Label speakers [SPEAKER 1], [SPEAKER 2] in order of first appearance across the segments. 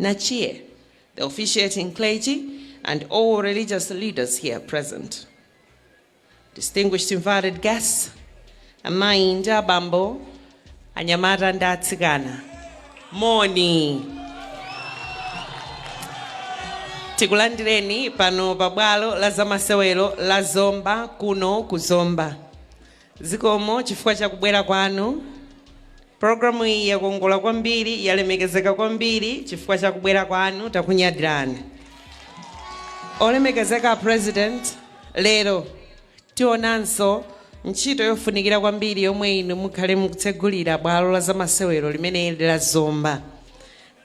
[SPEAKER 1] Nachie, the officiating clergy, and all religious leaders here present, distinguished invited guests, amayi ndi abambo, anyamata ndi atsikana, moni. Tikulandireni pano pa bwalo la zamasewero la Zomba kuno ku Zomba. Zikomo chifukwa cha kubwera kwanu. Programu iyi yakongola kwambiri, yalemekezeka kwambiri chifukwa cha kubwera kwanu. Takunyadirani. Olemekezeka a President, lero tionanso ntchito yofunikira kwambiri yomwe inu mukhale mukutsegulira bwalo la zamasewero limeneli la Zomba.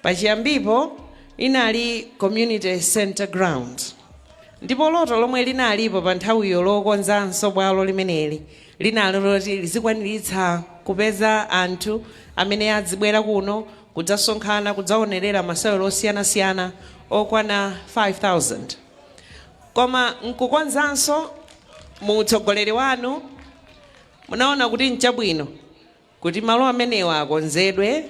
[SPEAKER 1] Pachiyambipo linali Community Centre Ground ndipo loto lomwe linalipo pa nthawiyo lokonzanso bwalo limeneli linali loti lizikwaniritsa kupeza anthu amene adzibwera kuno kudzasonkhana kudzaonerera masewero osiyanasiyana okwana 5000 koma nkukonzanso mu utsogoleri wanu munaona kuti nchabwino Kuti malo amenewa akonzedwe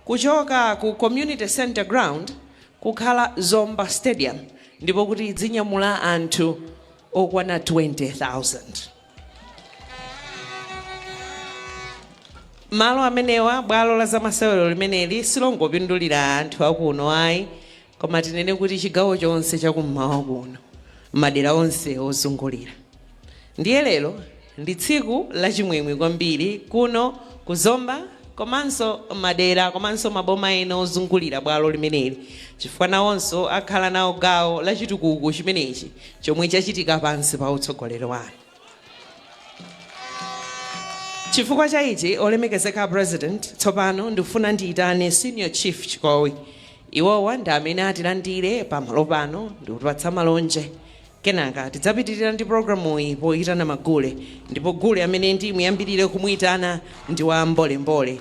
[SPEAKER 1] kuchoka ku Community Centre Ground kukhala Zomba Stadium ndipo kuti idzinyamula anthu okwana 20,000. Malo amenewa, bwalo la zamasewero limeneli silongopindulira anthu akuno ayi koma tinene kuti chigawo chonse cha kum'mawa kuno madera onse ozungulira. Ndiye lero ndi tsiku lachimwemwe kwambiri kuno ku Zomba komanso madera komanso maboma ena ozungulira bwalo limeneli chifukwa nawonso akhala nawo gawo la chitukuko chimenechi chomwe chachitika pansi pa utsogoleri wanu. Chifukwa cha ichi, Olemekezeka a President, tsopano ndikufuna ndiyitane Senior Chief Chikowi. Iwowa ndi amene atilandire pamalo pano ndikutipatsa malonje. Kenaka tidzapitirira ndi programuyi poyitana magule ndipo gule amene ndimuyambilire kumuyitana ndi wa Mbole Mbole.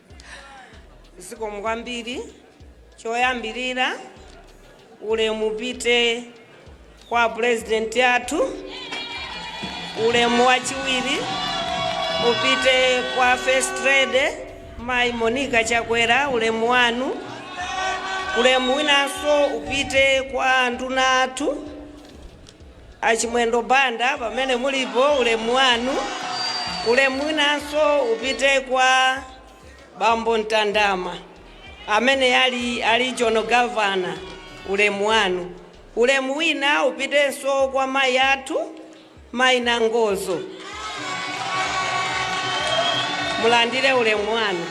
[SPEAKER 2] zikomo kwambiri choyambirira ulemu upite kwa a pulezidenti athu ulemu wachiwiri upite kwa first lady mayi monica chakwera ulemu wanu ulemu winanso upite kwa anduna athu A Chimwendo Banda pamene mulipo ulemu wanu ulemu winanso upite kwa bambo Ntandama amene ali a regional governor ulemu wanu. Ulemu wina upitenso kwa mayi athu mayi Nangozo mulandire ulemu wanu.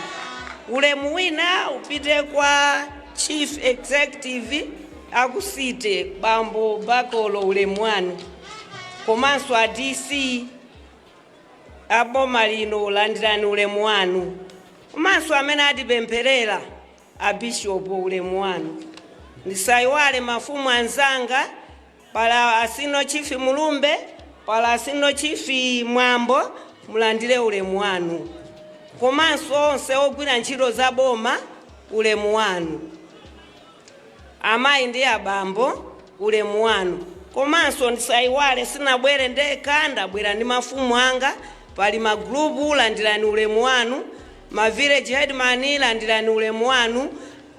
[SPEAKER 2] Ulemu wina upite kwa chief executive A ku City bambo Bakolo ulemu wanu komanso a DC a boma lino landirani ulemu wanu komanso amene atipempherera a Bishop ulemu wanu ndisaiwale mafumu anzanga pali a Senior Chief Mulumbe pali a Senior Chief Mwambo mulandire ulemu wanu komanso onse ogwira ntchito za boma ulemu wanu. Amayi ndi abambo, ulemu wanu. Komanso ndisaiwale sinabwere ndekha ndabwera ndi mafumu anga, pali ma group landirani ulemu wanu, ma village headman landirani ulemu wanu,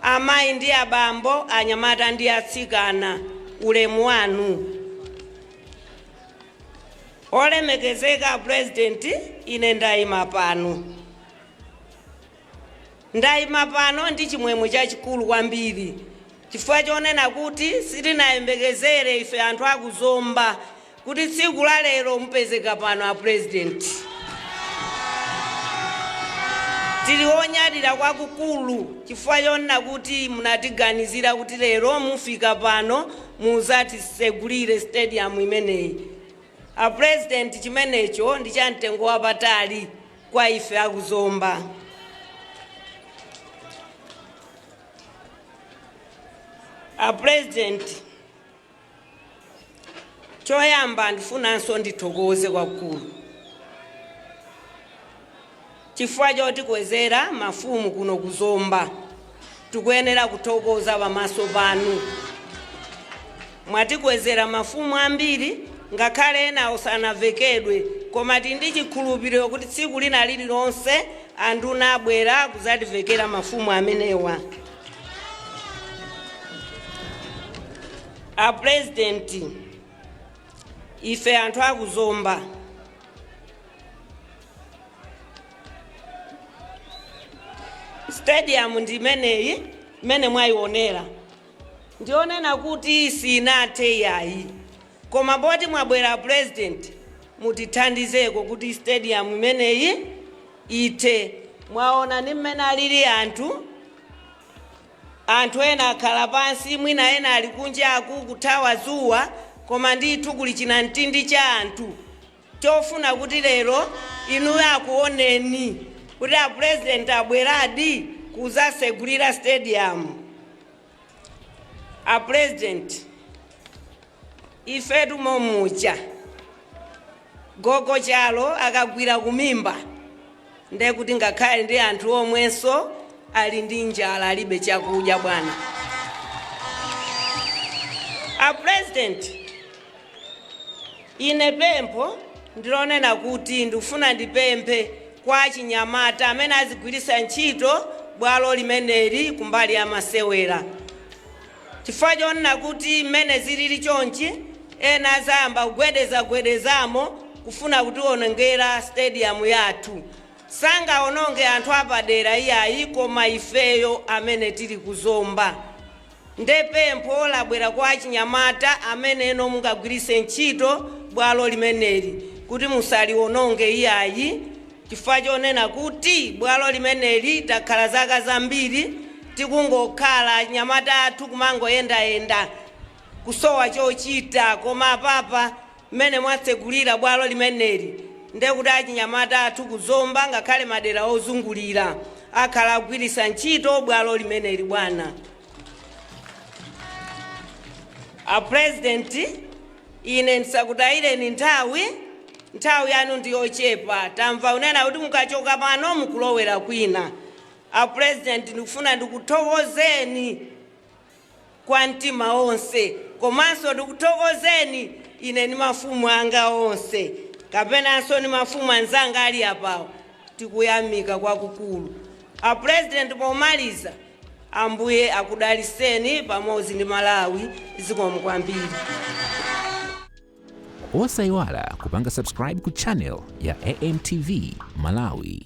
[SPEAKER 2] amayi ndi abambo, anyamata ndi atsikana ulemu wanu. Olemekezeka a President ine ndaima pano. Ndaima pano ndi chimwemwe chachikulu kwambiri chifukwa chonena kuti sitinayembekezere ife anthu a ku Zomba kuti tsiku la lero mupezeka pano a President. Tili onyadira kwakukulu chifukwa chonena kuti munatiganizira kuti lero mufika pano muzatisegulire stadium imeneyi. A President chimenecho ndi cha mtengo wapatali. Kwa ife a ku Zomba, a President, choyamba ndifunanso ndithokoze kwakukulu chifukwa chotikwezera mafumu kuno ku Zomba. Tikuyenera kuthokoza pamaso panu. Mwatikwezera mafumu ambiri ngakhale enawo sanavekedwe koma tili ndi chikhulupiriro kuti tsiku lina lililonse anduna abwera kudzativekera mafumu amenewa. A Pulezidenti, ife anthu a ku Zomba, stadium ndi imeneyi imene mwayionera ndionena kuti sinathe yayi koma poti mwabwera president mutithandizeko kuti stadium imeneyi ithe mwaona ni mmene alili anthu anthu ena akhala pansi mwina ena ali kunjaku kuthawa zuwa koma ndithu kuli chinamtindi cha anthu ofuna kuti lero inuyo akuoneni kuti a president abweradi kuzasegulira stadium a president ifetu momuja gogo chalo akagwira kumimba Ndekuti ngakhale ndi anthu omwenso ali ndi njala alibe chakudya bwana. A president ine pempho ndilonena kuti ndikufuna ndipemphe kwa achinyamata amene azigwiritsa ntchito bwalo limeneli kumbali ya masewera. Chifukwa chonena kuti mmene zilili chonchi ena azayamba kugwedeza gwedezamo kufuna kutiwonongera stadium yathu. Sangawononge anthu apadera iyayi koma ifeyo amene tili ku Zomba. Nde pempho labwera kwa achinyamata amenewo mungagwiritse ntchito bwalo limeneli kuti musaliwononge iyayi. Chifukwa chonena kuti bwalo limeneli takhala zaka zambiri tikungokhala anyamata athu kumangoyendayenda kusowa chochita koma apapa mmene mwatsegulira bwalo limeneli nde kuti achinyamata athu ku Zomba ngakhale madera ozungulira akhala akugwiritsa ntchito bwalo limeneli bwana a president. Ine ndisakutayireni nthawi, nthawi yanu ndi yochepa. Tamva unena kuti mukachoka pano mukulowera kwina. A Pulezidenti, ndikufuna ndikuthokozeni kwa mtima onse komanso ndikuthokozeni ine ndi mafumu anga onse kapenanso ndi mafumu anzanga ali apawo. Tikuyamika kwakukulu. A Pulezidenti, pomaliza Ambuye akudaliseni pamodzi ndi Malawi zikomo kwambiri.
[SPEAKER 3] Osaiwala kupanga subscribe ku channel ya AMTV Malawi.